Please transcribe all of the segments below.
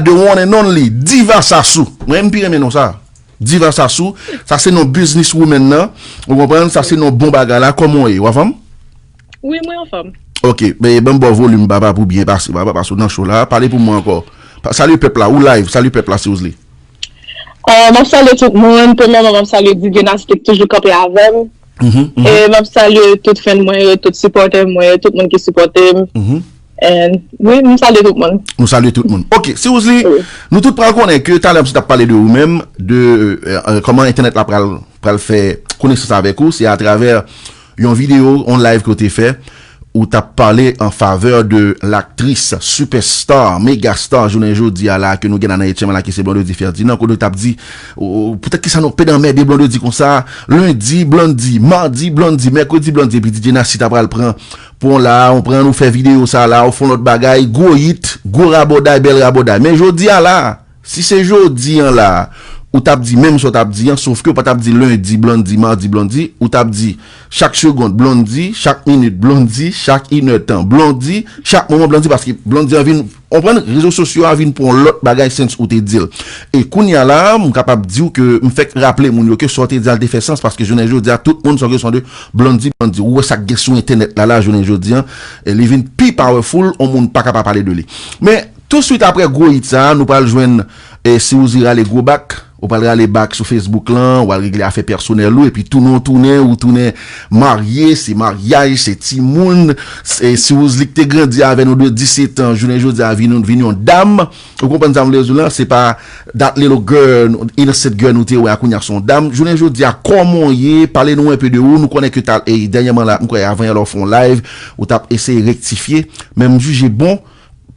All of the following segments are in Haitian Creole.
the one and only Diva Sasou mwen mpi renmen non sa Diva Sasou sa se non business woman nan ou konprann sa se non bon bagay la koman ou ye ou anfom? Wi mwen anfom. Ok ben banm baw volume papa pou byen pase papa paske ou nan show la pale pou mwen anko salye pèp la ou live salye pèp la si ou vle. Ahh map salye tout moun premyèman map salye Divina ki toujou kanpe avèm e map salye tout fèn mwen yo tout sipòtè mwen yo tout moun ki sipòtem. Oui, m salye tout moun. Ou salye tout moun. Ok, si ou zi, nou tout pral konnen ke talè m se tap pale de ou menm, de koman entènèt la pral fè konesans avèk ou, se a travè yon video, yon live ke ou te fè, ou tap pale an favè de l'aktris superstar, megastar jounen jodi a la ke nou gen nan Etchenman la ki se Blondedy Ferdinand, kote ou tap di, poutèt ki sa nou pèd anmède Blondedy konsa, lundi Blondedy, mardi Blondedy, mercredi Blondedy, epi DJ Nasty ta pral pran Pon la a ou pran ou fè video sa la a ou fon lòt bagay gwo yit gwo rabòday bèl rabòday men jodi a la a si se jodi an la a ou tap di menm sa w tap di an sof ke ou pa tap di lendi Blondy mardi Blondy ou tap di chak segond Blondy chak minit Blondy chak inè tan Blondy chak moman Blondy paske Blondy an vin Konprann, rezo sosyo a vin pou yon lòt bagay since ou te di l. E kounya la a, m kapab di w ke m fèk raple moun yo ke sa w te di a l te fè sans paske jounen jodi a tout moun san kesyon de Blondy Blondy. Ou wè sa k gen sou entènèt la la jounen jodi a, li vin pi powerful, yon moun paka pa pale de li. Men, touswit aprè gwo hit sa a, nou pral jwenn Siwouzi rale gwo bak. Ou pral rale back sou Facebook lan, wal regle afè pèsonèl ou epi tounen w tounen ou tounen marye, se maryaj, se timoun, se siwouzli k te grandi avè nou de 17 ans jounen jodi a vin vin yon dam, ou konprann sa m vle di w lan, se pa that little girl, innocent girl nou te wè a kounye a se yon dam, jounen jodi a kòman w ye, pale nou enpe de ou, nou konnen ke ta e dènyèman la m kwè avan yè la ou fè yon live ou tap eseye rektifye, men m jije bon.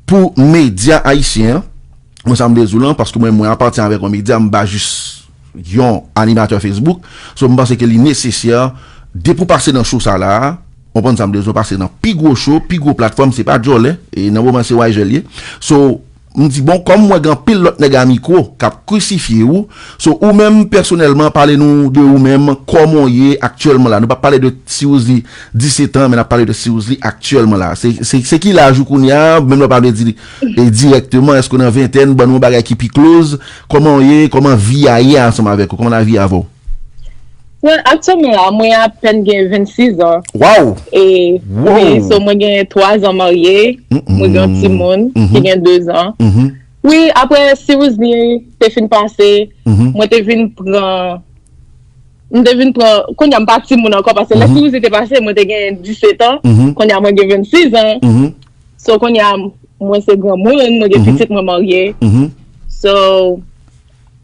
Pou medya ayisyen an, mwen sa m vle di w lan, paske mwen menm mwen apatyen avèk yon medya, m pa jis yon animatè Facebook, so m panse ke li nesesè depi w pase nan show sa la a, w konprann sa m vle di w pase nan pi gwo show, pi gwo platfòm, se pa djòlè, e nan moman se Yjèl ye, so m di bon kòm m wè gen anpil lòt nèg a mikwo k ap krisifye ou, so ou menm pèsonèlman pale nou de ou menm, kòman w ye aktyèlman la, nou pa pale de si w di. 17 an men nap pale de Seouz li aktyèlman la se ki laj ou kounya menm lè ou pa vle di direkteman èske ou nan ventèn ban nou yon bagay ki pi kloz kòman ou ye kòman vi a ye ansanm avèk ou kòman lavi a avè ou. Well aktyèlman la mwen apèn gen 26 an e wi so mwen gen 3 zan marye mwen gen yon timoun ki gen 2 zan wi apre Seouz li te fin pase mwen te vin pran M te vin pran, kounye a m pa timoun ankò paske lè kriz li te pase mwen te gen 17 an, kounye a mwen gen 26 an, so kounye a mwen se granmoun, mwen gen pitit mwen marye, so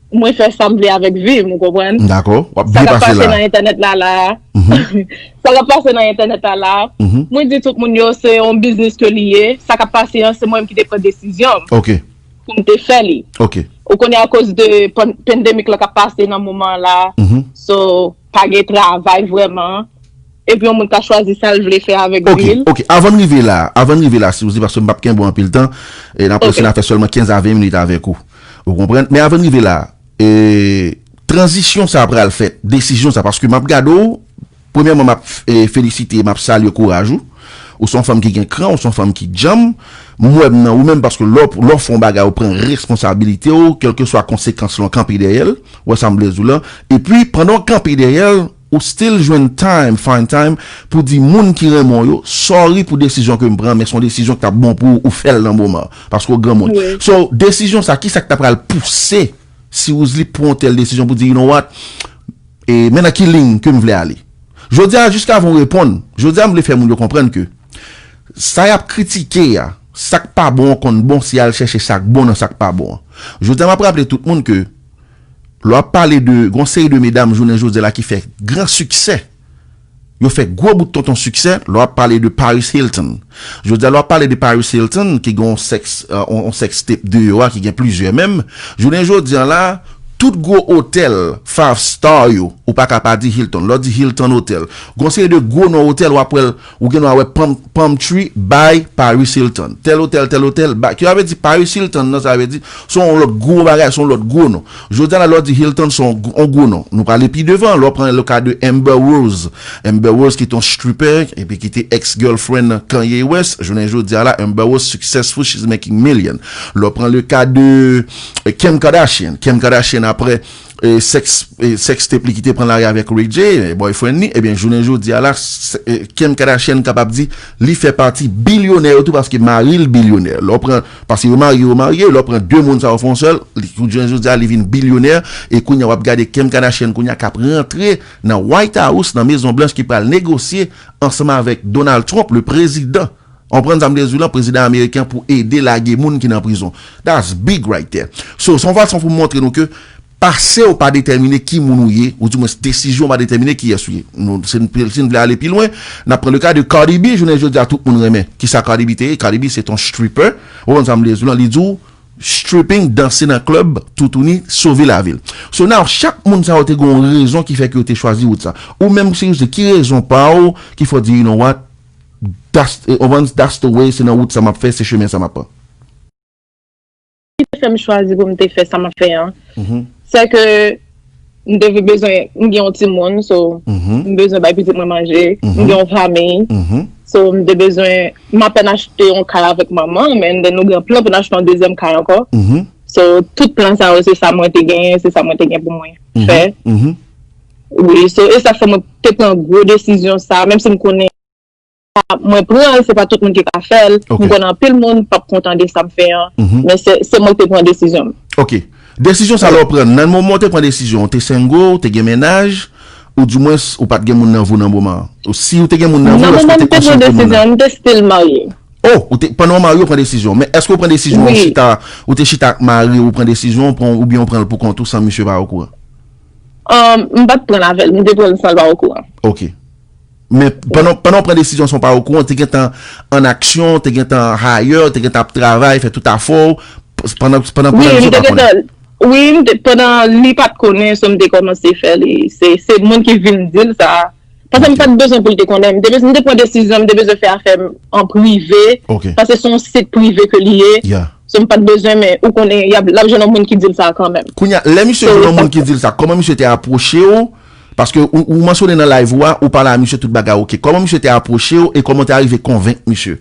mwen fè sa m vle avèk vi m ou konprann. Dakò, w ap byen pase la. Sa k ap pase nan entènèt la la a, sa k ap pase nan entènèt la la a, mwen di tout moun yo se yon biznis ke li ye, sa k ap pase an se mwen menm ki te pran desizyon m. Ok. pou m te fè li. Ok. Ou konnen akoz de pandemic la kap pase nan moman la, so pa gen travay vreman, epi yon moun ka chwazi sa l vle fè avèk vi l. Ok, ok, avan m rive la, avan m rive la Suzy, paske m pap kenbe w anpil tan, e n apresye n a fè sèlman 15 a 20 minit avèk ou, ou konprann, men avan n rive la, e, tranzisyon sa pral fèt, desizyon sa, paske m ap gade w, Premyèman map felisite e map salye kouraj ou. Ou se yon fanm ki gen kran, ou se yon fanm ki djanm. M wè m nan ou menm paske lè w fè yon bagay ou pran responsabilite w, kèlkeswa konsekans lan w kanpe dèyè l. Ou wè sa m vle di w la. Epi pandan w kanpe dèyè l, ou still jwenn time, find time, pou di moun ki renmen w yo, sorry pou desizyon ke m pran men se yon desizyon ki t ap bon pou ou, ou fè l nan moman an. Paske w granmoun. So desizyon sa kisa ki ta pral pouse Si Woozly pran yon tèl desizyon pou di you know what, e men nan ki liy ke m vle ale. Jodi a jiskavan w reponn, jodi a m vle fè moun yo konprann ke sa y ap kritike a, sa k pa bon an konn bon si y al chèche sa k bon nan sa k pa bon an. Jodi a m ap raple tout moun ke lè w ap pale de gen yon seri de medam jounen jodi a la ki fè gran siksè, Yo fè gwo bout tonton siksè lè w ap pale de Paris Hilton. Jodi a lè w ap pale de Paris Hilton ki gen yon sèks, yon sèks tep deyò a ki gen plizyè menm, jounen jodi a la, tout gwo otèl five star yo, ou pa ka pa di Hilton. Lè w di Hilton Hotel, gen yon seri de gwo non otèl w ap wè l. Ou gen dwa wè Palm Palm Tree by Paris Hilton. Tèl otèl, tèl otèl by. Ki sa vle di Paris Hilton nan sa vle di? Se yon lòt gwo bagay, se yon lòt gwo non. Jodi a la lè w di Hilton se yon gwo non. Nou prale pi devan, lè w pran le cas de Amber Rose. Amber Rose ki te yon stripper epi ki te ex girlfriend Kanye West, jounen jodi a la Amber Rose successful, she's making million. Lè w pran le cas de Kim Kardashian, Kim Kardashian aprè Sex tape li ki te pran lari avèk Ray J, boyfriend li, ebyen jounen jodi a la Kim Kardashian kapab di li fè pati bilyonè yo tou paske mari l bilyonè. Lè w pran, paske yo marye yo marye, lè w pran 2 moun sa yo fè yon sèl, li jounen jodi a li vin bilyonè e kounye a w ap gade Kim Kardashian kounye a k ap rantre nan White House, nan Mezon Blanch ki pral negosye ansanm avèk Donald Trump le prezidan. On pran zam de zou lan prezidan ameriken pou ede lage moun ki nan prizon. That's big right there. So, son fason pou montre nou ke pase w pa detèmine ki moun ou ye, ou di mwens desizyon w pa detèmine kiyès ou ye. Nou, si n vle ale pi lwen, n ap pran le ka de Cardi B, jounen jodi a tout moun renmen kisa Cardi B te ye, Cardi B se t on stripper, ou konprann sa m vle di w lan, li di w stripping, danse nan club, toutouni, sove lavi l. So now, chak moun sa yo te gen yon rezon ki fè ke yo te chwazi wout sa. Ou menm si w se ki rezon pa w ki fè w di you know what? That's, ou konprann, that's the way, se nan wout sa map fè, se chemen sa map pran. Ki te fè m chwazi pou m te fè sa map fè an, sè ke m te vin bezwen, m gen yon timoun, so m bezwen bay pitit mwen manje, m gen yon fanmiy, so m te bezwen, m apèn achte yon kay avèk manman m, and then nou gen plan pou n achte yon dezyèm kay ankò, so tout plan sa yo se sa mwen te genyen, se sa mwen te gen pou mwen fè. Wi, so e sa k fè mwen te pran gwo desizyon sa, menm si m konnen mwen pran l se pa tout moun ki ka fè l, m konnen anpil moun p ap kontan de sa m fè an, men se mwen ki te pran desizyon m. Ok. Desizyon sa lè w pran l, nan moman w te pran desizyon an w te sengo, w te gen mennaj, ou di mwens ou pa t gen moun nan vi w nan moman an? Ou si w te gen moun nan vi w èske w te konsilye moun nan? Nan moman m te pran desizyon an m te stil marye. Oh! Ou te, pandan w marye w pran desizyon, men èske w pran desizyon an w chita, ou te chita ak mari w ou pran desizyon an oubyen w pran l pou kont ou san misye pa okouran? M pat pranl avèl, m te pranl san l pa okouran. Ok. Men, pandan w pran desizyon san w pa okouran, w te gentan an aksyon, w te gentan hayè, w te gentan ap travay, fè tout afè w, pandan w pa konnen? Wi, m te gentan, wi, pandan li pat konnen, so m te kòmanse fè li, se moun ki vin di l sa, Paske m pa t bezwen pou l te konnen. M te pran desizyon m te bezwen fè afè m an prive. Paske se yon sit prive ke li ye. So m pa t bezwen men ou konnen y ap jwenn yon moun ki di l sa kanmenm. Kounye a, lè misye jwenn yon moun ki di l sa, kòman misye te apwoche w? Paske ou mansyone nan live ou a, ou pale a misye tout bagay oke. Kòman misye te apwoche w e kòman w te arive konvenk misye?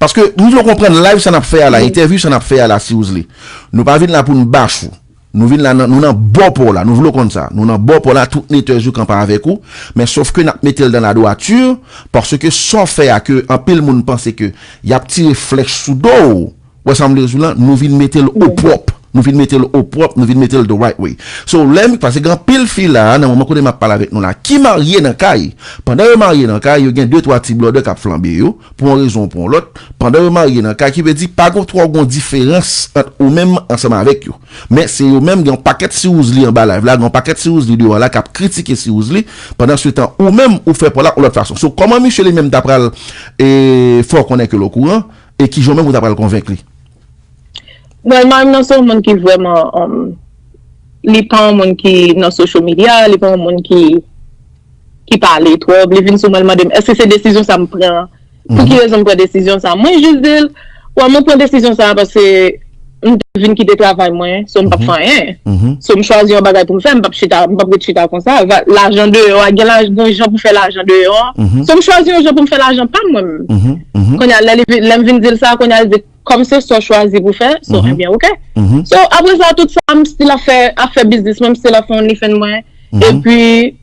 Paske m vle w konprann live sa n ap fè a la, entèvyou sa n ap fè a la Siwouzle, nou pa vin la pou n bash ou. Nou vin la nan nou nan bò paw la nou vle w konn sa nou nan bò paw la tout netè jou kanpa avèk ou men sof ke nap metel dan la dwatur paske Saw fè a ke anpil moun panse ke yap tire flèch sou dow ou wè sam vle diw lan nou vin metel o pwòp nou vin metel o pwòp nou vin metel the right way so lè m paske gen anpil fi la nan moman kote map pale avèk nou la ki marye nan kay pandan yo marye nan kay yo gen de twa ti blòdè kap flanbe yo pou yon rezon ou pou yon lòt, pandan yo marye nan kay ki vle di pa twò gon diferans ant ou menm ansanm avèk yo. Men se yo menm gen yon pakèt siwouzli anba live la, gen yon pakèt siwouzli deyò la kap kritike siwouzli, pandan se tan ou menm ou fè paw la yon lòt fason. So kòman misye li menm ta pral fè w konnen ke l okouran e kijan ou menm ou ta pral konvenk li? Well marim nan se yon moun ki vrèman li pa yon moun ki nan social media, li pa yon moun ki. ki pale twòp, li vin sou mwen li mande m èske se desizyon sa m pran an, pou ki rezon m pran desizyon sa a. Mwen jis di l, wè mwen pran desizyon sa a paske m te vin kite travay mwen, so m p ap fè anyen. So m chwazi yon bagay pou m fè, m p ap chita, m p ap ret chita konsa. Lajan deyò a, gen yon jan pou fè lajan deyò an. So m chwazi yon jan pou m fè lajan pa m mwen menm. Kounye a lè m vin di l sa, kounye a l di. Kòm se sa w chwazi pou fè, so enbyen ok. So apre sa tout sa m still ap fè ap fè biznis mwen, m still ap fè onlyfans mwen. Epi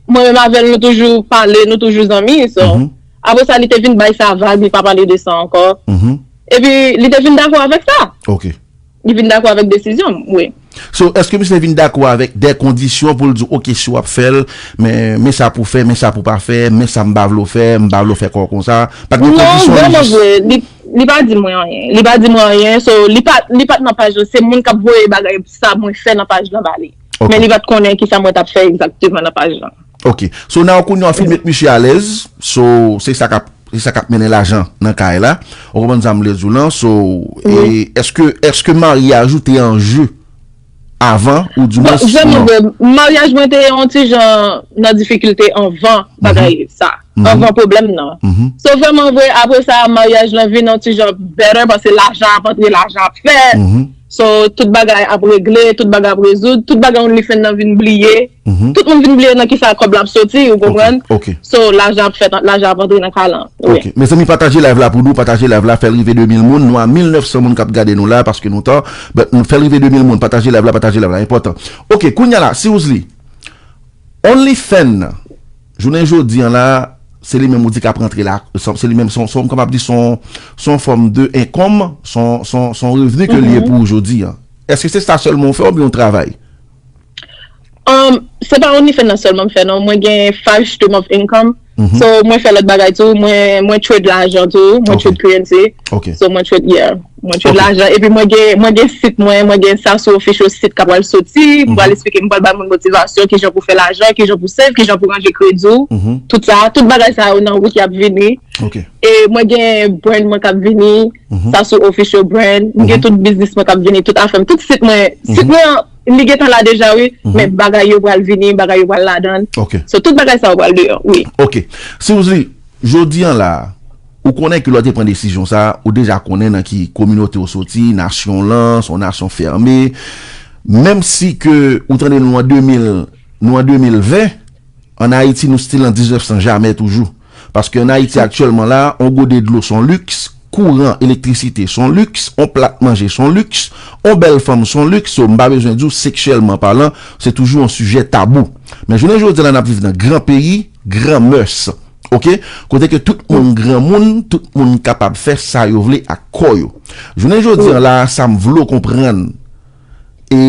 mwen menm avè l nou toujou pale, nou toujou zanmi. So apre sa li te vin bay sa vag, li pa pale de sa ankò. Epi li te vin dakò avèk sa. Li vin dakò avèk desizyon m wi. So eske misye vin dakò avèk dè kondisyon pou l di w ok si w ap fè l men men sa pou w fè men sa pou w pa fè men sa m pa vle w fè m pa vle w fè kò w konsa pa t gen kondisyon li jis. Non vrèman vre li pa di mwen anyen li pa di mwen anyen so li pa li pa t nan paj lan se moun k ap voye bagay sa mwen fè nan paj lan ba li men li pa t konnen kisa mwen t ap fè egzakteman nan paj lan. Ok so nan kounye an fin met misye alèz so se sa kap se sa kap mennen lajan nan kay la ou konprann sa m vle di w lan so e èske èske maryaj ou te an je avan ou di mwens jan nou wè maryaj mwen te yon ti jan nan difikilte anvan bagay sa anvan pwoblèm nan so vrèman vre apre sa maryaj lan vin yon ti jan better paske lajan ap antre lajan ap fè. So tout bagay ap regle, tout bagay ap rezoud, tout bagay only fen nan vin bliye, tout moun vin bliye nan kisa kòb la ap soti ou konprann, so lajan ap fèt, lajan ap antre nan kalan. Ok mezanmi pataje live la pou nou pataje live la fèl rive 2000 moun nou a 1900 moun kap gade nou la paske nou tan but nou fèl rive 2000 moun pataje live la pataje live la enpòtan ok kounya la si ouzli only fen nan Jounen jodi an la, se li menm ou di k ap rantre la, se li menm, son, m kapab di son, son yon fòm de enkonm, son, son, son revni ke li ye pou ou jodi an. Èske se sa sèlman ou fè oubyen ou travay? Se pa OnlyFans sèlman m fè non, mwen gen five stream of income, so mwen fè lòt bagay tou, mwen, mwen trade lajan tou, mwen trade currency, so mwen trade, yeah. Mwen jwe lajan epi mwen gen mwen gen sit mwen, mwen gen Sassou Official sit ka pral soti, m pral esplike m pral bay moun motivasyon kijan pou fè lajan, kijan pou save, kijan pou ranje kredi w, tout sa, tout bagay sa yo nan wout yap vini e mwen gen brand mwen kap vini Sassou Official brand, m gen tout biznis mwen kap vini, tout afè m, tout sit mwen, sit mwen an li gentan la deja wi, men bagay yo pral vini, bagay yo pral ladan, so tout bagay sa yo pral deyò wi. Ok Siouxsie, jodi an la. Ou konnen ke lè w te pran desizyon sa a, ou deja konnen nan ki kominote ou soti, nasyon w lan, se yon nasyon fème. Menm si ke ou tande nou an 2000, nou an 2020, an Ayiti nou stil an 1900 jamè toujou. Paske an Ayiti aktyèlman la, yon gode dlo son liks, kouran, elektrisite son liks, yon plat manje son liks, yon bèl fanm son liks, so m pa bezwen di w seksyèlman palan, se toujou yon sijè tabou. Men jounen jodi a la n ap viv nan gran peyi, Gran mœurs ok kote ke tout moun gran moun tout moun kapab fè sa yo vle ak kò yo jounen jodi an la sa m vle w konprann e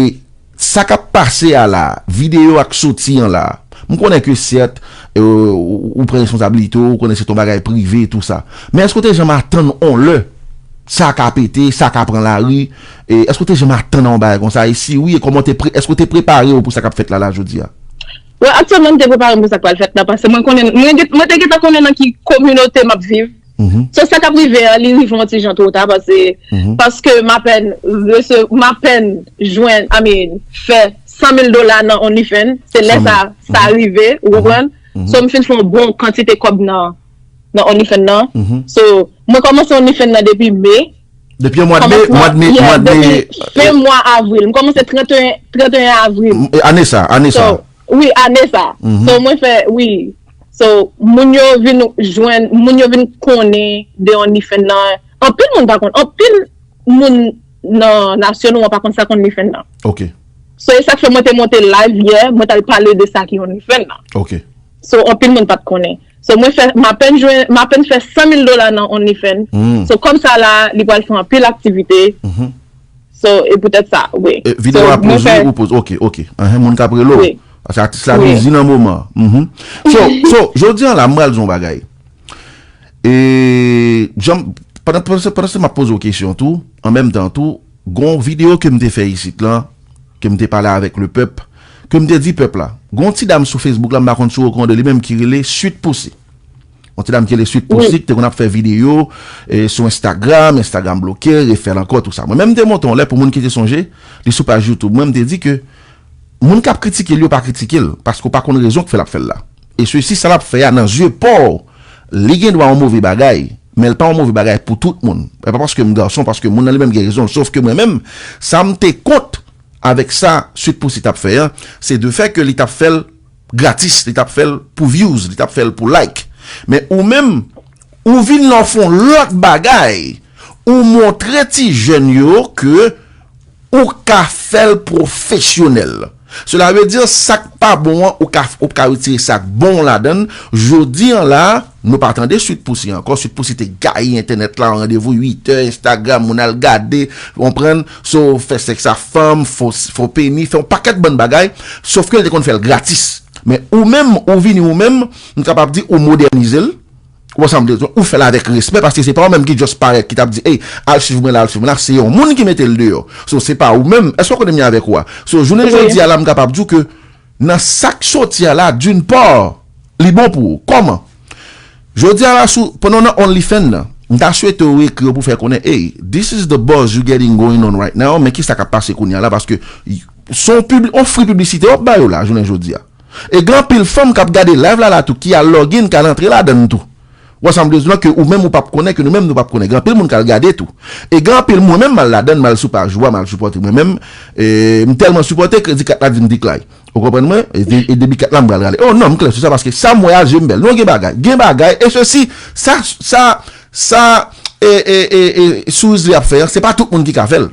sa kap pase a la videyo a k soti an la m konnen ke sèt ou pran responsabilite w ou konnen se t on bagay prive e tou sa men èske w te janm atann on lè sa ka pete sa ka pran lari èske w te janm atann a on bagay konsa e si wi e kòman w te pre èske w te prepare w pou sa kap fèt la la jodi a. Well aktyèlman m te prepare m pou sa k pral fèt la pase mwen konnen mwen te gentan konnen nan ki kominote m ap viv so sa k ap rive a li rive yon ti jan two ta pase paske m apèn rese m apèn jwenn I mean fè 100 mil dola nan onlyfan se lè sa sa rive ou konprann so m fin fè yon bon kantite kòb nan onlyfan nan so mwen kòmanse onlyfan nan depi me. Depi an mwad me, mwad me, mwad me. Depi fen mwa avril, m komanse 31 avril. Ane sa, ane sa. Wi, ane sa. So mwen fè, wi. So, moun yo vin jwenn, moun yo vin konnen de Onlyfans nan. Anpil moun pa konnen, anpil moun nan nasyon nou an pa konnen sa k Onlyfans nan. Ok. So, e sa k fè mwen te monte live yè, mwen t al pale de sa ki Onlyfans nan. Ok. So, anpil moun pa t konnen. So mwen fè m apèn jwenn m apèn fè 100 mil dola nan onlyfan so kòb sa la li pral fè anpil aktivite so e poutèt sa wi. E video a poz wi ou poz ok ok enhen moun kap rele w paske atis la bizi nan moman an uhmm so so jodi an la m pral di w yon bagay e janm pandan pandan se map poze w kesyon tou an menm tan tou gon video ke m te fè isit lan. Ke m te pale avèk le pèp, ke m te di pèp la. Gen yon ti dam sou Facebook la, m pa konn si w okonran de li menm, ki rele Sweet Poussy. Yon ti dam ki rele Sweet Poussy, ki te konn ap fè videyo sou Instagram, Instagram bloke l, refè l ankò, tou sa. Mwen menm m te monte yon lè, pou moun ki te sonje, li sou paj YouTube mwen, m te di ke moun k ap kritike l yo pa kritike l, paske w pa konn rezon ki fè l ap fè l la. E sesi, sa l ap fè a nan zye pa w, li gen dwa yon move bagay. Men l pa yon move bagay pou tout moun. E pa paske m gason, paske moun nan li menm gen rezon l. Sof ke mwen menm, sa m te kont avèk sa Sweet Poussy t ap fè an, se de fè ke li t ap fè l gratis, li t ap fè l pou vyouz, li t ap fè l pou like. Men ou menm, ou vin la w fè yon lòt bagay, ou montre ti jèn yo ke. Ou ka fèl profesyonèl. Cela veut dire sak pa bon an ou ka ou ka retire sak bon ladann, jodi an la nou pa tande Sweet Poussy ankò, Sweet Poussy te gaye entènèt la an randevou 8 è Instagram moun al gade ou konprann, so fè sèks a fanm, fo fo peni, fè yon pakèt bann bagay, sof ke li te konn fèl gratis men ou menm ou vini ou menm m kapab di ou modènizel, Ou wè sa m vle di? Ou fè l avèk respè paske se pa ou menm ki just parèt ki t ap di ey al swiv mwen la al swiv mwen la se yon moun ki mete l deyò so se pa ou menm èske w konn m gen avèk ou a so jounen jodi a la m kapab di w ke nan sa k soti a la d'une part li bon pou ou kòman jodi a la sou pandan w nan onlyfan nan m ta swete w ekri yo pou w fè konnen ey this is the buzz you getting going on right now men kisa k ap pase kounye a la paske son pibli on free piblisite w ap ba yo la jounen jodi a. E gen anpil fanm kap gade live la la tou ki al login kal antre ladann tou wè sam vle diw la ke ou menm ou pap konnen ke nou menm nou pap konnen gen anpil moun kal gade tou e gen anpil mwen menm mal ladann mal sou paj ou a mal sipòte mwen menm m tèlman sipòte kredi kat la dim deklay ou konprann mwen e debi kat la m pral rale oh non m klè sou sa paske sam wè a jem bèl non gen bagay gen bagay e sesi sa sa sa e e e e sourizli ap fè an se pa tout moun ki ka fèl.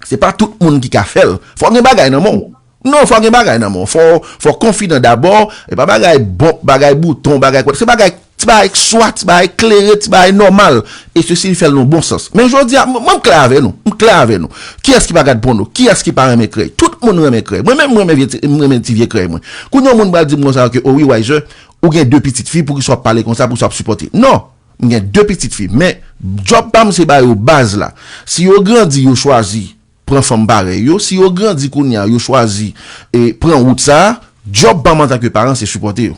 Se pa tout moun ki ka fè l. Fò w gen bagay nan men w. Non, fò w gen bagay nan men w. Fò w konfidan dabò. E pa bagay bonp, bagay bouton, bagay kwat. Se bagay, ti bagay k swa, ti bagay k klere, ti bagay nòmal. E se si li fè l nan bon sans. Men jodi a, mwen m klè avè nou. M klè avè nou. Kiyès ki pa gad pòno? Kiyès ki pa renmen krèy? Tout moun renmen krèy. Mwen menm m renmen vye ti, m renmen ti vye krèy mwen. Kounye yon moun pral di m konsa ke o wi Waizer, ou gen de pitit fi, poukisa w ap pale konsa, poukisa w ap sipòte. Non! M gen 2 pitit fi, men djòb pa m se ba yo baz la. Si yo grandi yo chwazi pran fanm parèy yo, si yo grandi kounye a yo chwazi pran wout sa a, djòb pa m antanke paran se sipòte yo.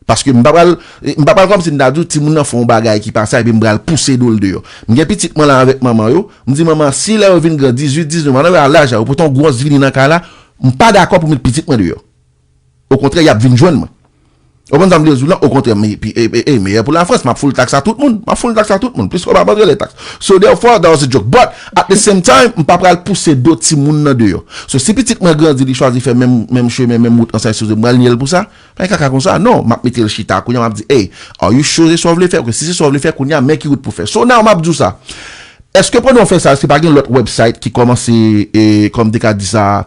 Paske m pa pral, m pa pral kòmsi m ta di w timoun nan fè yon bagay ki pa sa epi m pral pouse do l deyò. M gen pitit mwen la avèk manman yo, m di manman an si lè yo vin gran 18, 19 an, lè yo al laj la yo pote yon gwòs vini nan kay la, m pa dakò pou m met pitit mwen deyò. okontrè yap vin jwenn mwen ou konprann sam vle diw lan okontrè e meyè pou la France map full tax a tout moun map full tax a tout moun plis kob ap antre lè tax so therefore that was a joke but at the same time mpa pral pouse do timoun nan deyò so si pitit mwen grandi li chwazi fè menm chemen menm wout ansay souse mpral niyel pousa pa gen kaka konsa non map metel chita kounya map di hey are you sure se sa ou vle fè ok si se sa ou vle fè kounya men ki wout pou fè so now map diw sa eske pandan ou fè sa eske pa gen lòt website ki komanse kòm te ka disa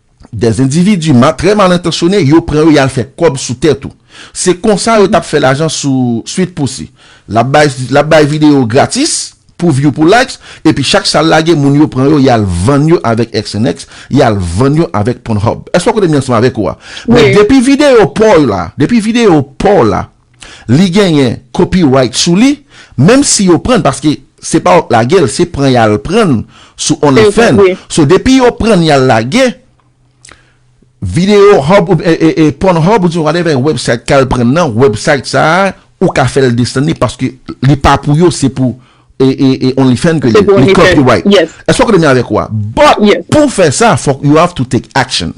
Des individus ma très mal intentionné yo pran yo yal fè kòb sou tèt ou. Se konsa yo tap fè lajan sou Sweet Poussy. Lap bay lap bay video gratis pou view pou likes epi chak sal lage moun yo pran yo yal vann yo avèk XNX yal vann yo avèk Pornhub. Eske w kote m ye ansanm avèk ou a? Men depi video paw la depi video paw la Li genyen copyright sou li menm si yo prann paske se pa wap lagel se pran yal prann sou only fan so depi yo prann yal lage video hub e porn hub oubyen whatever website kal prann nan website sa ou ka fel desann li paske li pa pou yo se pou e only fan ke li li copyright eske wap kote menm avek wa but pou fè sa fok you have to take action.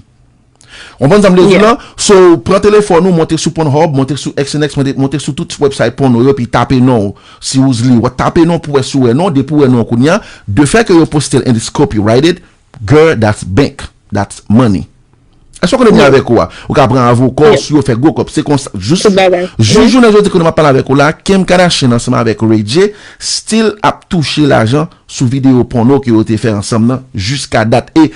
Konprann sa m vle di w la? So, pran telefòn ou, monte sou Pornhub, monte sou XNXX, monte sou tout website pòno yo epi tape non w. Si w li, w ap tape non w pou w wè si w wè non w. Depi w wè non w kounye a, de fè ke yo poste l and it's copyrighted, girl, that's bank, that's money. Èske w konnen mwen avèk ou a? Ou ka pran avoka w sou yo, fè gwo kòb. Se konsa, jis jounen jodi kounye a m ap pale avèk ou la, Kim Kardashian ansanm avèk Ray J still ap touche lajan sou videyo pòno ke yo te fè ansanm nan jiska dat. E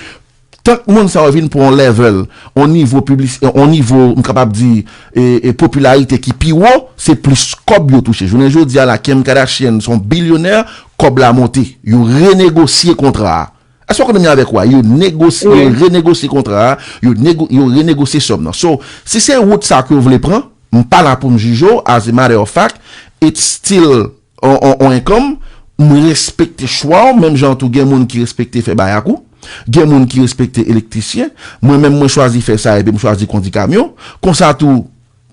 Tank moun sa yo vin pran yon level, yon nivo piblis, yon nivo m kapab di e popilarite ki pi wo, se plis kòb yo touche. Jounen jodi a la Kim Kardashian se yon bilyonè, kòb la monte. Yo renegosye kontra a. Èske w konn menm jan avèk wa? Yo negosye, yo renegosye kontra a, yo nego, yo renegosye sòm nan. So, si se wout sa ke w vle pran, m pa la pou m jije w, as a matter of fact, it's still. On enkom, m respekte chwa w menm jan tou gen moun ki respekte fè bay ak ou. Gen moun ki respekte elektrisyen. Mwen menm mwen chwazi fè sa epi m chwazi kondi kamyon. Konsa tou,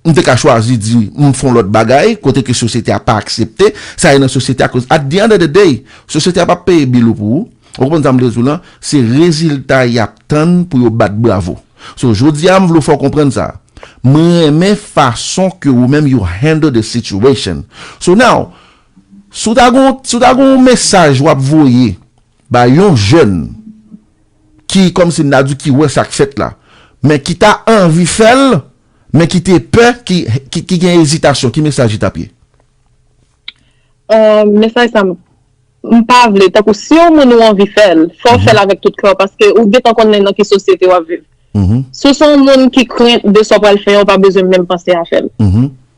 m te ka chwazi di m fon lòt bagay kote ke sosyete a pa aksepte sa e nan sosyete a koz at di end of the day sosyete a pap peye bil ou pou ou. Ou konprann sa m vle di w lan? Se rezilta y ap tann pou yo bat bravo. So jodi a m vle w fè w konprann sa. M renmen fason ke ou menm you handle the situation. So now, si w ta gon, si w ta gon yon mesaj wap voye bay yon jèn ki kòm si m ta di ki wè sa k fèt la, men ki ta anvi fè l, men ki te pè, ki, ki gen ezitasyon, ki mesaj li tap ye? Mesaj sa m m pa vle tankou si yon moun ou anvi fè l fò w fè l avèk tout kè w paske ou gentan konnen nan ki sosyete w ap viv si w se yon moun ki krent de sa w pral fè an ou pa bezwen menm panse a fè l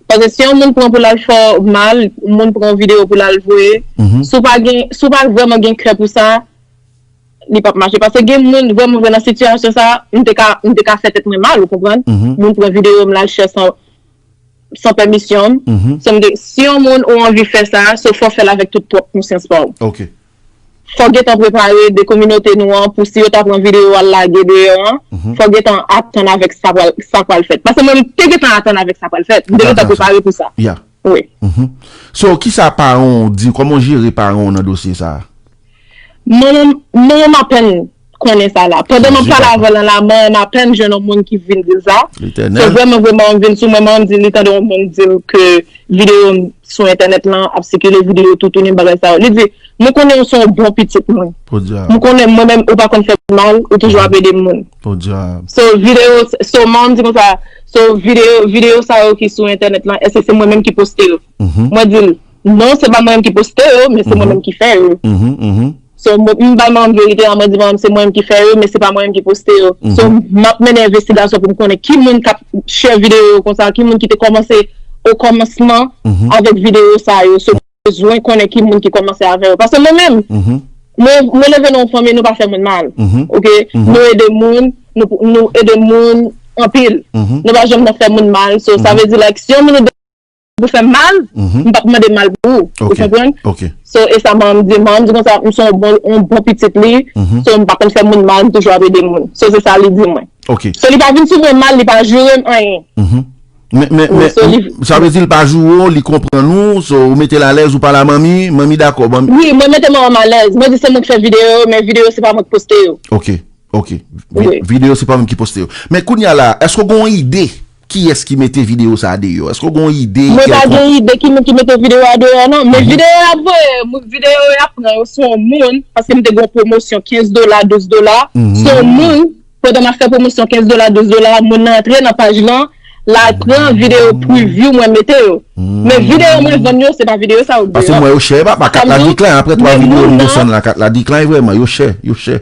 paske si yon moun pran pou l al fè w mal moun pran yon videyo pou l al voye si w pa gen si w pa vrèman gen kè pou sa li p ap mache paske gen moun vrèman vre nan sitiyasyon sa m te ka m te ka fè tèt mwen mal ou konprann moun pran videyo m la chè san san pèmisyon m si yon moun ou anvi fè sa so fò fèl avèk tout pwòp konsyans pa w fò gentan prepare de kominote nou an pou si yo ta pran videyo al lage deyò an fò gentan atann avèk sa pral fèt paske mwen m te gentan atann avèk sa pral fèt m te gentan prepare pou sa so kisa paran w di kòman w jere paran w nan dosye sa. Manman m apèn konnen sa la. Pandan m ap pale avè l nan la, manman m apèn jwenn yon moun ki vin di l sa. Se vrèman vre manman m vin sou mwen, manman m di li tande yon moun di l ke videyo m sou entènèt lan ap sikile, videyo toutouni bagay sa yo. Li di, mwen konnen ou se yon bon pitit mwen. Mwen konnen mwen menm ou pa konn fè m mal, ou toujou ap ede moun. So videyo, so manman m di konsa, so videyo sa yo ki sou entènèt lan, èske se mwen menm ki poste yo? Mwen di l. Non se pa mwen menm ki poste yo men se mwen menm ki fè yo So m bay manman m verite a mwen di manman m se mwen menm ki fè yo men se pa mwen menm ki poste yo So m ap mennen envestigasyon pou m konnen ki moun k ap share videyo yo konsa ki moun ki te kòmanse o kòmansman avèk videyo sa yo So mwen bezwen konnen ki moun ki kòmanse avè yo paske mwen menm mwen leve nan yon fanmi nou pa fè moun mal ok nou ede moun nou ede moun anpil nou pa janm nan fè moun mal So sa vle di like si yon moun ou. Ou fèm mal, m pap mande mal pou ou. Ou konprann? So, e sa manman m di. Manman m di konsa, m son yon bon pitit li. So, m pa konn fè moun mal, m toujou ap ede moun. So, se sa li di mwen. So, li pa vin sou mwen mal, li pa joure m anyen. Men, men, men, sa vle di li pa joure ou, li konprann ou, so, ou mete l alèz, ou pale a manmi, manmi dakò. Wi, mwen mete manman m alèz. Mwen di se mwen ki fè videyo yo, men videyo se pa mwen ki poste yo. Ok, ok. Videyo se pa mwen ki poste yo. Men, kounye a la, èske ou gen yon ide? Kiyès ki mete video sa deyò? Eske w gen yon ide kèlkonk? Mwen pa gen ide ki moun ki mete video a deyò non. Men video yo ap voye, video yo ap pran yo se yon moun, paske m te gen yon pwomosyon 15 dola, 12 dola, se yon moun, pandan m ap fè pwomosyon 15 dola, 12 dola, moun nan antre nan paj lan, l al pran video preview mwen mete yo. Men video mwen vann yo se pa video sa yo deyò. Paske m wè yo chè papa, kat la decline aprè 3 video m desann la, kat la decline vrèman, yo chè, yo chè.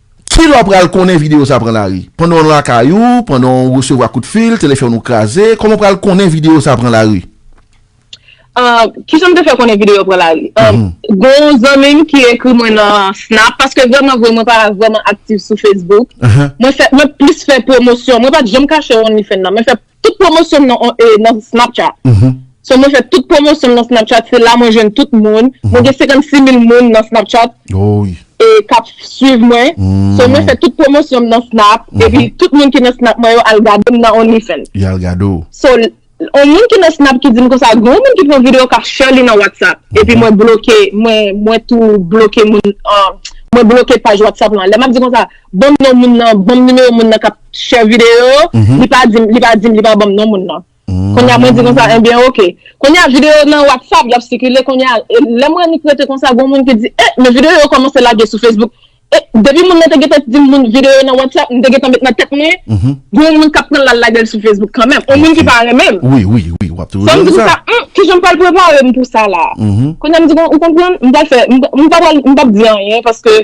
Kilè w pral konnen videyo sa pran lari? Pandan w lakay ou, pandan w resevwa kout fil, telefòn ou kraze, kòman w pral konnen videyo sa pran lari? Kijan m te fè konnen videyo pran lari? Gen yon zanmi m ki ekri mwen nan Snap, paske vrèman vre mwen pa vrèman aktif sou Facebook, mwen plis fè pwomosyon, mwen pa t janm kache OnlyFans nan, mwen fè. Tout pwomosyon m nan Snapchat. So mwen fè tout pwomosyon m nan Snapchat, se la mwen jwenn tout moun. Mwen gen 56 mil moun nan Snapchat k ap swiv mwen. So mwen fè tout pwomosyon m nan Snap. Epi tout moun ki nan Snap mwen yo al gade m nan OnlyFans. Yo al gade w. So yon moun ki nan Snap ki di m konsa, gen yon moun ki pran videyo k ap share li nan WhatsApp. Epi mwen bloke, mwen tou bloke moun, mwen bloke paj WhatsApp lan. Lè m ap di konsa. Banm non moun nan, banm nimewo moun nan kap share video yo, li pa dim, li pa dim, li pa banm non moun nan. Kounya mwen di konsa enbyen ok. Kounya video yo nan WhatsApp yap sikile kounya lè mwen annik rete konsa gon moun ki di eh men video yo kòmanse lage sou Facebook eh depi moun nan te gentan dim moun video yo nan WhatsApp mte gentan met nan tèt mwen gon moun kap pranl lal lagel sou Facebook kanmenm on moun ki pa renmenm. Fòm di konsa humm kijan mpral preparem pou sa la. Kounya mdi ou konprann mpral fè mpapral mpap di anyen paske.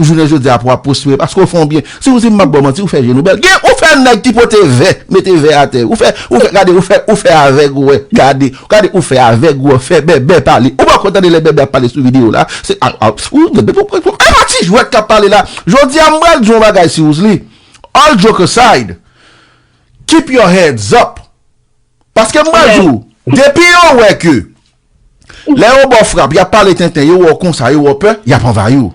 Jounen jodi a pou wap pwospere paske ou fè yon byen. Si ou di m map ba w manti ou fè je nou bèl. Gen ou fè nèg ki pote vè, mete vè atè. Ou fè ou fè gade ou fè ou fè avèg wè gade gade ou fè avèg wè fè bèbè pale. Ou poko tande lè bèbè ap pale sou videyo la se a a ou bèbè pou pou pou epa ti jwèt kap pale la. Jodi a m pral di yon bagay si ou s li all joke aside keep your heads up paske m pral di w depi yo wè ke Lè yo ba w frap, y ap pale tenten, yo wè w konsa, yo wè w pè, y ap anvayi w.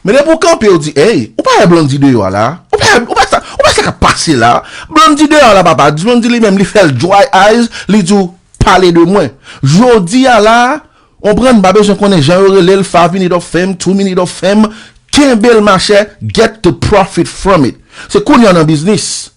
Men depi w kanpe, w di, Ey, ou pa wè Blondy deyò a la a? Ou pa wè sa, ou pa wè sa k ap pase la a? Blondy deyò a la, papa. Blondy li menm, li fè l dry eyes, li di w, Pale de mwen. Jodi a la a, konprann, m pa bezwen konnen jan yo rele l, five minute of fame, two minute of fame, kenbe l machè, get the profit from it. Se kounye a w nan biznis.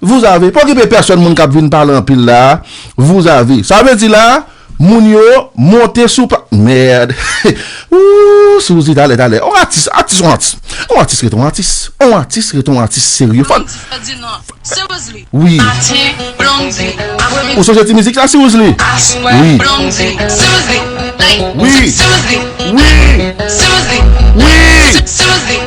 Vous avez, pa okipe pèsòn moun kap vin pale anpil la, vous avez sa vle di la moun yo monte sou pa merd ooh souzi talè talè on atis atis on atis on atis ret on atis on atis ret on atis serye fòn wi ou sonje ti mizik la siwouzli wi wi wi wi wi.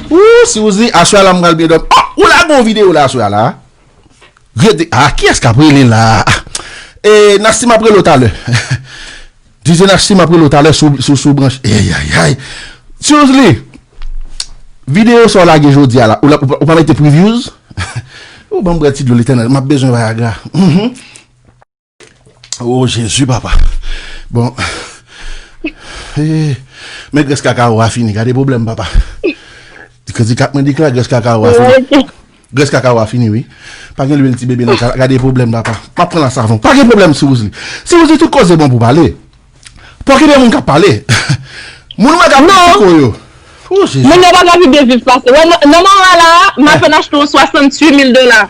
Ooh si ou di aswè a la m pral byen dòmi oh ou lage yon video la aswè a la ret de ah kiyès kap rele la ah eh Nasty map rele w talè DJ Nasty map rele w talè si w branche eyayayay Tiusly video sa w lage jodi a la ou pa mete previews ooh banm bwè ti dlo li tèlman map bezwen viagra humm. Oh jezi papa Bon Men grès kakawo a fini Gade pwoblèm papa Kredi kat mwen di klè grès kakawo a fini Grès kakawo a fini wi Pa gen lwil ti bebe nan kal Gade pwoblèm papa M ap pran la savon Pa gen pwoblèm si wouzli Si wouzli tout koze bon pou pale Pou ki de moun k ap pale Moun mwen k ap pale pou yo Oh jezi Moun yo pa ka pi byen viv pase Nan moman la a M apenn achte yon 68 mil dola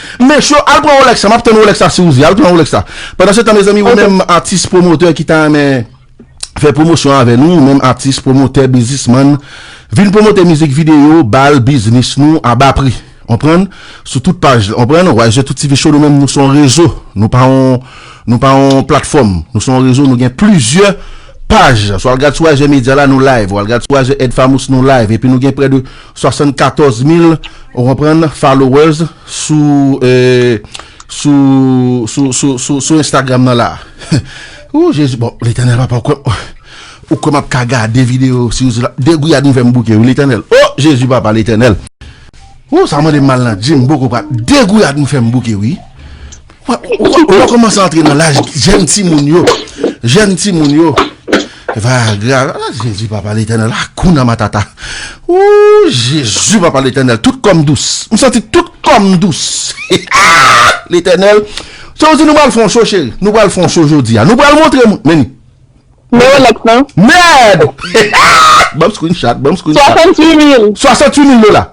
Mech yo al pran Rolex la map tann Rolex la si ou vle al pran Rolex la pandan se tan mezanmi ou menm atis pwomotè ki ta renmen fè pwomosyon avè nou ou menm atis pwomotè bizismann vin pwomote mizik videyo bal biznis nou a ba pri onprann sou tout paj onprann whyztouttvshow nou menm nou son rezo nou pa on nou pa on platfòm nou son rezo nou gen plizyè paj sou al gad sou whyzmedia la nou live ou al gad sou whyzedfamous nou live epi nou gen prè de 74 mil ou konprann followers sou sou instagram nan la ooh jezi bon letènèl papa ou kwè map ka gade video si ou zila de gouyad nou fèm bouke wi letènèl ooh jezi papa letènèl ooh sa mande mal nan dim boko pral de gouyad nou fèm bouke wi. Ou wè kòman sa antre nan laj jèn timoun yo, jèn timoun yo. Vayagra, a Jezi papa letènèl, akouna matata. Ooh Jezi papa letènèl, tout kòm dous. M santi tout kòm dous. Aah letènèl. Se ou di nou pral fè yon show cheri? Nou pral fè yon show jodi a. Nou pral montre moun, men. Men yon lòt nan. Mèd! Aah! Banm screenshot, banm screenshot. 68 mil. 68 mil dola.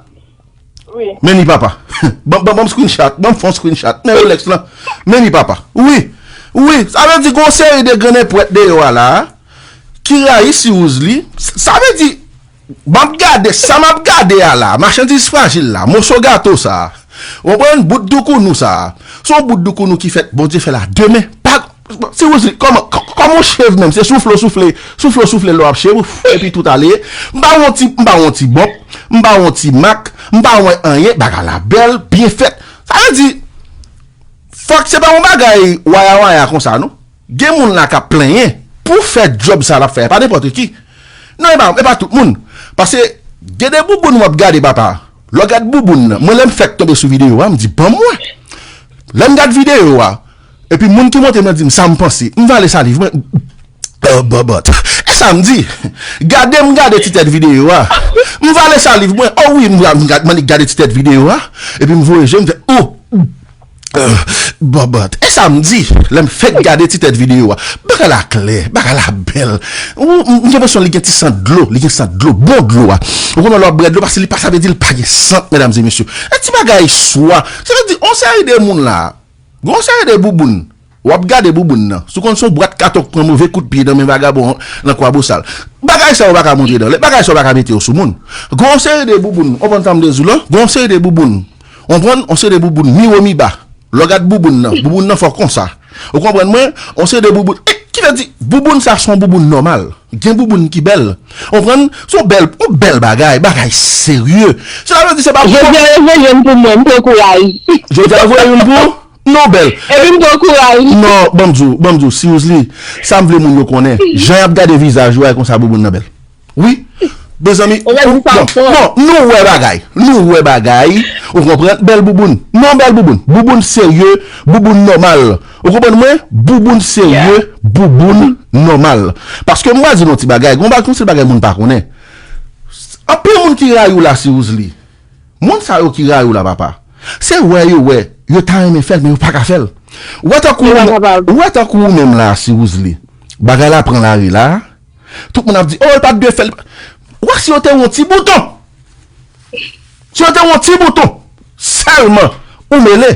Meni papa banm screen chat banm fon screen chat men Rolex lan meni papa wi wi sa vle di gon seri de grennenpwèt deyò a la ki rayi siwouz li sa vle di map gade sa map gade a la machandiz frajil la moso gato sa ou konprann bout doukounou sa son bout doukounou ki fèt Bondye fèl a de men pa Ti Roseline, kòman, kòman ou cheve menm? Se soufle ou soufle, soufle ou soufle lè w ap cheve ou, fwuu epi tout ale? M ba ou yon ti, m ba ou yon ti bop, m ba ou yon ti mak, m ba ou yon anyen, bagay la bèl, byen fèt. Sa vle di, fòk se pa yon bagay waya waya konsa non. Gen moun la k ap plenyen pou fè djòb sa l ap fè a, e pa nenpòt ki. Non e pa, e pa tout moun. Pase gen de bouboun w ap gade papa, lè w gad bouboun nan, mwen lè m fèk tonbe sou videyo a, m di ban mwen. Lè m gad videyo a. Epi moun ki monte nan di m sa m panse, m vale saliv mwen bòbòt. E sa m di? Gade m gade ti tèt videyo a. M vale saliv mwen. O wi m annik gade ti tèt videyo a. Epi m voye je m fè o bòbòt. E sa m di? Lè m fèk gade ti tèt videyo a. Bagay la klè. Bagay la bèl. M gen enpresyon li gen ti sant dlo. Li gen sant dlo. Bon dlo a. Ou konnen lè w ap bwè dlo pase li pa sa vle di li pa gen sant medam e mesye. E ti bagay swa. Sa vle di on seri de moun la. Gen yon seri de bouboun, wap gade bouboun nan, si w konn se yon bwat katon k pran move kout pye nan men vagabon an nan Kwabosal. Bagay sa yo pa ka montre dan lè, bagay sa yo pa ka mete yo sou moun. Gen yon seri de bouboun, w konprann sa m vle di w lan, gen yon seri de bouboun, w konprann, yon seri de bouboun miwomiba, lè w gad bouboun nan, bouboun nan fò konsa. Ou konprann mwen? Yon seri de bouboun, ki vle di bouboun sa se yon bouboun nòmal. Gen bouboun ki bèl, Konprann? Se yon bèl, yon bèl bagay, bagay serye. Sela vle di se pa. Jodi a yo voye youn pou mwen, m pran kouraj. Jodi a yo voye youn pou ou? Non bèl. Epi m pran kouraj. Non, ban m di w, ban m di w seriously, sa m vle moun yo konnen, jan y ap gade vizaj ou a e konsa bouboun nan bèl. Wi. Mezanmi, ou, non, non, nou wè bagay, nou wè bagay, ou konprann, bèl bouboun. Non bèl bouboun, bouboun serye, bouboun nòmal. Ou konprann mwen? Bouboun serye, bouboun nòmal. Paske m pral di nou yon ti bagay, gen yon seri bagay moun pa konnen. Anpil moun ki rayi w la si w zli. Moun sa yo ki rayi w la papa, se wè yo wè, yo ta renmen fè l men yo pa ka fè l. Ou wè tankou ou menm la si w zli, bagay la pran lari la, Tout moun ap di oh l pat dwe fèl Wa si yo te yon ti bouton Si yo te yon ti bouton Sèlman Ou mele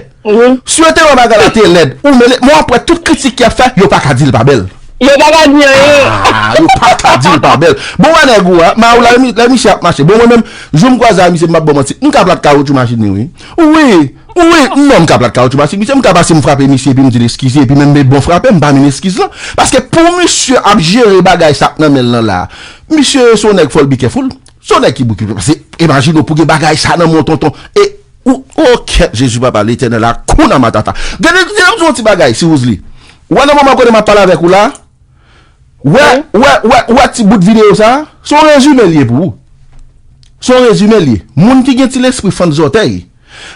Si yo te wè bagay la te lèd Ou mele Men wap wè tout kritik yap fè yo paka dil pa bèl Yo paka di anyen Ahh yo paka dil pa bèl Bon wè nèg ou a ma ou la lè misye ap mache Bon mwen menm jou m kwaze a misye m pap baw manti m ka plat kawotchou machin li wi Ou wi Wi, m wè w m ka plat kawoutchou pase misye, m ka pase m frape misye epi m di l eskize epi menm lè l bon frape m pa menm eskiz lan. Paske pou misye ap jere bagay sa k nan men l lan la a, misye se yon nèg fò l bi kèful, se yon nèg ki bouke paske imajine w pou gen bagay sa nan men yon tonton e ou o kèt Jezi papa letènèl akouna matata. Gen de lè m di w yon ti bagay si Roozly, wè nan moman kote m ap pale avèk ou la a, wè wè wè wè ti bout videyo sa a, se yon rezime l ye pou ou. Se yon rezime l ye. Moun ki gen ti lespri fant zòtèy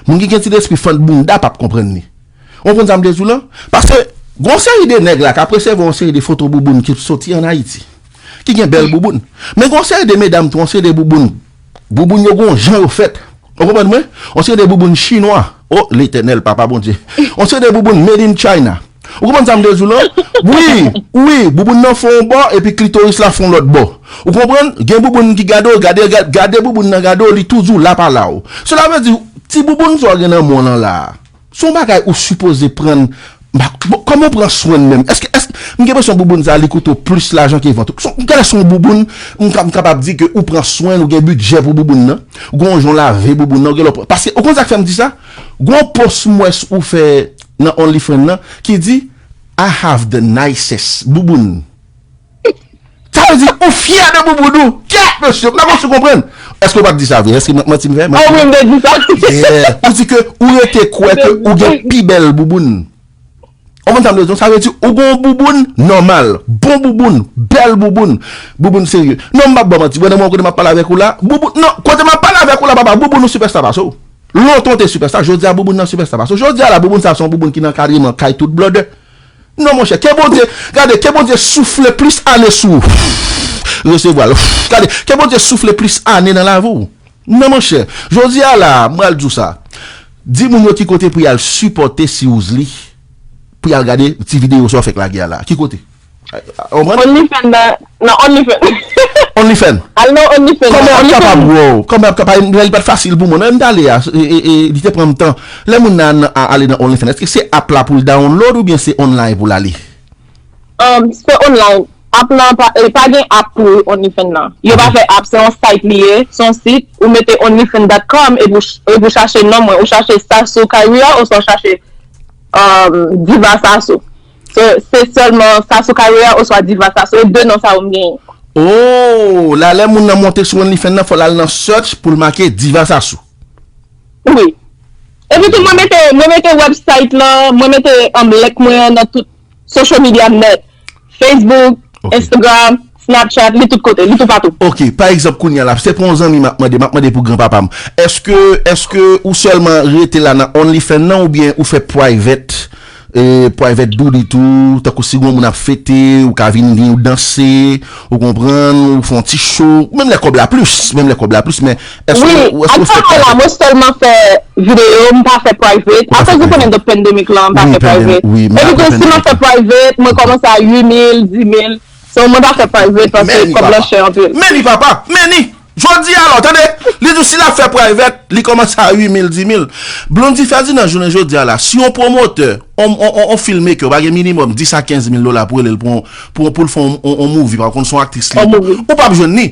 Moun ki gen ti lespri fant bounda pap konprann li. Ou konprann sa m vle di w lan? Paske gen yon seri de nèg la k ap resevwa yon seri de foto bouboun ki soti ann Ayiti, ki gen bèl bouboun. Men gen yon seri de medam tou, yon seri de bouboun, bouboun yo gen yon jan yo fèt, ou konprann mwen, yon seri de bouboun chinwa, o Letènèl, Papa Bondye, yon seri de bouboun made in China. Ou konprann sa m vle di w lan? Wi, wi, bouboun nan fè yon bò epi klitoris la fè yon lòt bò. Ou konprann? Gen bouboun ki gade w, gade, gade bouboun nan gade w, li tou di w la pa la w. Sela vle di, ti bouboun sa w gen nan men w lan la a, se yon bagay ou sipoze prann, bon, kòman w pran swen l menm? Èske, èske, m gen enpresyon bouboun sa a li koute w plis lajan ke vant ou. Se yon, gade se yon bouboun, m ka, m kapab di ke ou pran swen l, ou gen bidjè pou bouboun nan, gen yon jan w lave bouboun nan, gen lè w pran, paske ou konn sa k fè m di sa? Gen yon pòs m wè ou fè. nan only friend nan ki di I have the nicest bouboun sa vle di ou fyè de bouboun ou kèt mesye m pa konn si w konprann èske w pat di sa vre èske manti m fè ah wi m te di sa yeah ou di ke ou rete kwè ke ou gen pi bèl bouboun ou konprann sa m vle di w sa vle di ou gon w bouboun nòmal bon bouboun bèl bouboun bouboun serye non m pap ba w manti wè nan moman kote m ap pale avèk ou la bouboun non kote m ap pale avèk ou la papa bouboun ou sipèsta pase w. Lontan w te sipèsta, jodi a bouboun nan sipèsta. Paske jodi a la bouboun sa se yon bouboun ki nan ankadreman kay tout blòdè. Non monchè, ke Bondye, gade, ke Bondye soufle plis ane sou ou. Resevwa l. Gade, ke Bondye soufle plis ane nan lavi w. Non monchè, jodi a la, m pral di w sa, di moun yo ki kote pou y al sipòte Siwouzli, pou y al gade ti videyo sa w fèk lage a la a. Ki kote? Ou konprann? Only fan nan nan only fan. Only fan. Al nan only fan nan. Kòman yap kapab bro? Kòman yap kapab? Li pat fasil pou mwen non lèm t ale a li te pranm tan. Lè moun nan ale nan only fan èske se app la poul download oubyen se online poul ale? Umm se online. App lan pa pa gen app pou only fan nan. Yo pa fè app se yon site li ye, se yon sit ou mete only fan dot com epi ou epi ou chache non mwen ou chache Sassou Caria oswa ou chache umm Diva Sassou. So se sèlman Sassou Carrière oswa Diva Sassou? E 2 non sa yo m genyen. Ooh la lè moun nan monte sou onlyfans nan fòl al nan search poul make Diva Sassou. Wi. Epi tou mwen mete mwen mete website lan, mwen mete um link mwen an nan tout social media m net. Facebook, Instagram. Snapchat, li tout kote, li toupatou. Ok, pa egzanp kounye a la, se pou yon zanmi m ap mande, m ap mande pou gran papa m. Eske, eske ou sèlman rete la nan OnlyFans nan oubyen ou fè private, private doodit ou, tankou si gon moun ap fete, ou ka vin gen yon danse, ou konprann, ou fè yon ti show, menm lè kòb la plis, menm lè kòb la plis, men eske ou, ou eske ou fè private? Wi, ak sa a la, mwen sèlman fè video, m pa fè private, akoz ou konnen de pandemic lan, m pa fè private. Epi tou, si m ap fè private, mwen kòmanse a 8000, 10000. So mwen pa fè private paske kob lan chè anpil. Meni papa! Meni! Jodi a la w tande! Li di w si l ap fè private, li kòmanse a 8 mil, 10 mil. Blondy Ferdinand jounen jodi a la, si yon pwomotè, yon yon filmmaker pa gen minimòm 10 a 15 mil dola pou rele l pou yon, pou yon, pou l fè yon yon movie, pa konn se yon aktris li ye tou, ou pap jwenn li.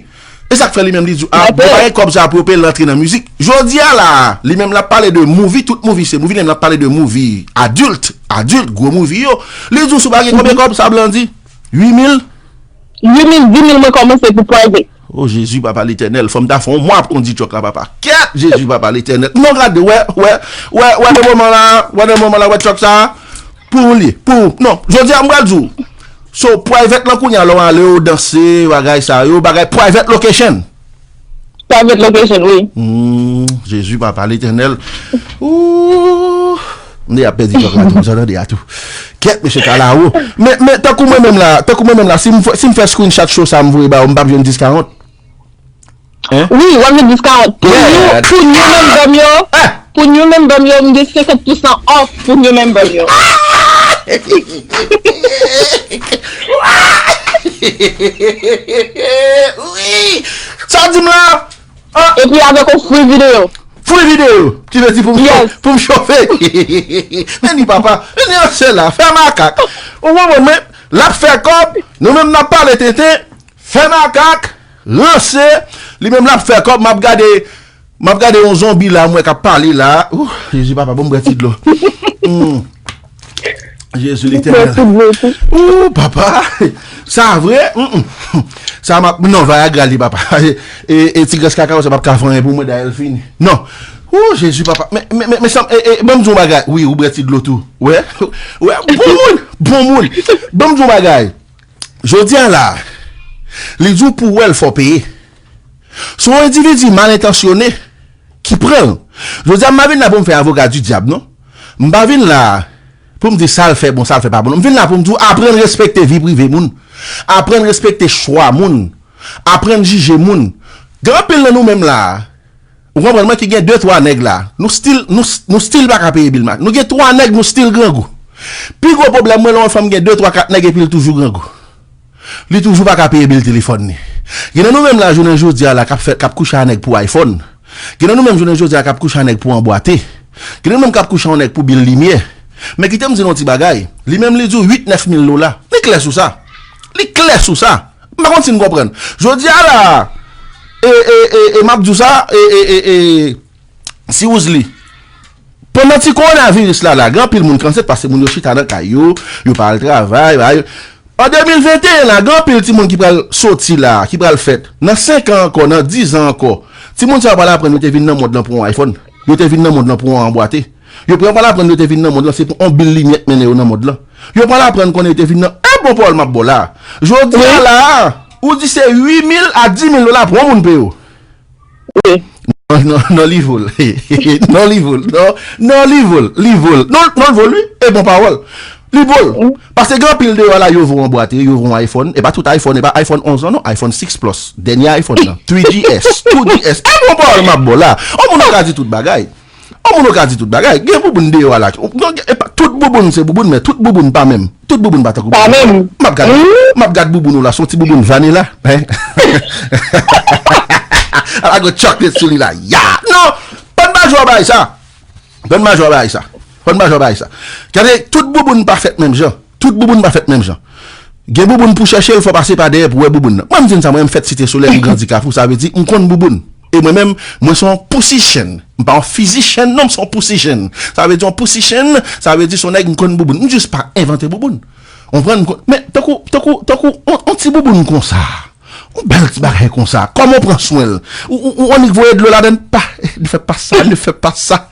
E sa k fè li menm li di w a, mwen pa gen kòb sa a pou yo peye l rantre nan mizik. Jodi a la a, li menm l ap pale de movie, tout movie se movie, li menm l ap pale de movie adulte, adulte, gwo movie yo. Li di w si w pa gen konbyen kòb sa Blandy? 8 mil? 8 mil, 10 mil mwen komanse pou private. Oh Jezi papa letènèl fòm ta fè yon mwa ap kondi truck la papa kèèt Jezi papa letènèl non gade wè wè wè wè nan moman la wè nan moman la wè truck sa pou ou li pou ou non jodi a m pral di w so private lan kounya lè w ale ou danse bagay sa yo bagay private location Private location wi. Humm Jezi papa letènèl ooh m deja pèdi kòk la tou m sot an deja tou kèt mesye ka la wo men men tankou mwen menm la tankou mwen menm la si m fè si m fè screenshot show sa m voye ba ou m pap jwenn 10 40? Hein? Wi wap jwenn 10 40 pou nou pou nou menm zòm yo. Pou new member m yo m gen 50 pousan off pou new member m yo. Sa w di m la? Epi avèk yon free video. Free video? Ki vle di pou m chofe? Nenny papa, Nenny an sè la, fè makak. Ou konprann mwen? L ap fè kòb, nou menm n ap pale tenten, fè makak, ranse, li menm l ap fè kòb m ap gade. Map gade yon zonbi la mwen kap pale la ooh jezi papa bon bre ti dlo humm jezi letènèl ooh papa sa vre humm sa map non vayagra li papa e ti gres kaka sa pap ka fè anyen pou mwen dayè l fini non ooh jezi papa men men men sa e e banm di yon bagay wi ou bre ti dlo tou wè wè bon moun bon moun banm di yon bagay jodia la li di w pou wè l fò w peye. Se yon endividi mal entansyone ki pran l. Jodi a m pa vin la pou m fè avoka di dyab non. M pa vin la pou m di sa l fè bon sa l fè pa bon non. M vin la pou m di w aprann respekte vi prive moun. Aprann respekte chwa moun. Aprann jije moun. Gen anpil nan nou menm la a ou konprann mwen ki gen de twa nèg la a nou stil nou stil pa ka peye bil ma nou gen twa nèg nou stil grangou. Pi gwo pwoblèm mwen lè yon fanm gen de twa kat nèg epi l toujou grangou. Li toujou pa ka peye bil telefòn li. Gen nan nou menm la jounen jodi a la k'ap fè, k'ap kouche a nèg pou iPhone. Gen nan nou menm jounen jodi a k'ap kouche a nèg pou anbwate. Gen nan nou menm k'ap kouche a yon nèg pou bil limyè. Men kite m di nou yon ti bagay, li menm li di w 8, 9 mil dola. Li klè sou sa. Li klè sou sa. M pa konn si n konprann. Jodi a la a, e, e, e, e m'ap di w sa, e, e, e, e, si w z li. Pandan ti kowonaviris la la gen anpil moun ki ansent paske moun yo chita nan kay yo, yo pa al travay, yo pa al. An 2021 la gen anpil timoun ki pral soti la, ki pral fèt. Nan 5 an ankò, nan 10 an ankò, timoun sa yo pral aprann yo te vin nan mond lan pou yon iPhone, yo te vin nan mond lan pou yon anbwate. Yo pral pral aprann yo te vin nan mond lan se pou yon bil limyè k mennen yo nan mond lan. Yo pral aprann konnen yo te vin nan Eh bon pawòl m ap ba w la a. Jodi a la a, ou di se 8 mil a 10 mil dola pou yon moun peye w. Wi. Non non non li vo l non li vo l non non li vo l li vo l non non l vo l wi e bon pawòl li vo l paske gen anpil deyò la yo vo yon bwat e yo vo yon iphone e pa tout iphone e pa iphone 11 lan non iphone 6 plus dènye iphone lan 3GS 2GS e bon pawòl m ap ba w la on moun pa ka di tout bagay. On moun ou ka di tout bagay, gen bouboun deyò a la ki, non gen, epa tout bouboun se bouboun men tout bouboun pa menm, tout bouboun pa tankou bouboun ou la, map gad, map gad bouboun ou la son ti bouboun vanila, hein, a la gen chocolate sou li la, ya, non, Pann Majò bay sa, Pann Majò bay sa, Pann Majò bay sa, gade tout bouboun pa fèt menm jan. Tout bouboun pa fèt menm jan. Gen bouboun pou chèche l fò w pase pa dèyè pou w wè bouboun nan. Mwen m di n sa mwen m fèt Site Solèy m grandi Kafou sa vle di m konn bouboun. E mwen menm mwen s on pousi chen. M pa on fizi chen non m s on pousi chen. Sa vle di on pousi chen sa vle di s on nèg m konn bouboun. M jis pa envante bouboun. Konprann m konn men tankou tankou tankou on ti bouboun konsa on bèl ti bagay konsa kòman w pran swen l ou annik voye dlo ladan l pa li fè pa sa li fè pa sa.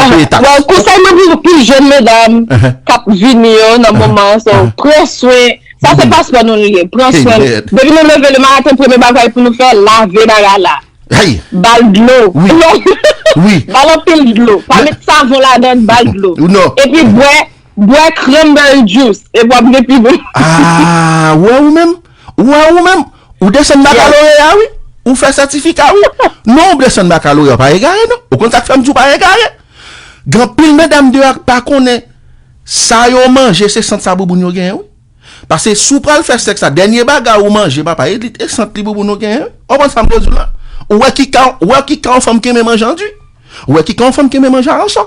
Bon, konsèy mwen pou tout jèn medam k ap vini yo nan moman an, se pran swen, sa se paspò nou li ye, pran swen nou. Depi nou leve le maten, premye bagay pou nou fè, lave bagay la. Ba l dlo. Ba l anpil dlo. Pa met savon ladan, ba l dlo. E pi bwè, bwè cranberry juice. E pou w ap gen pi bon. A, wè ou menm? Ou wè ou menm, ou desann bakaloreya wi, ou fè sètifika wi. Non ou desann bakaloreya ou pa egare non. Ou konn sa k fè m di ou pa egare? Gen anpil medam deyò a k pa konnen sa yo manje se sant sa bouboun yo genyen wi. Pase si w pral fè sèks la dènye bagay ou manje papa e li e sant li bouboun ou genyen wi. Ou konprann sa m vle di w la? Ou wè ki kan ou wè ki kan yon fanm k renmen manje anduy? Ou wè ki kan yon fanm k renmen manje aransò?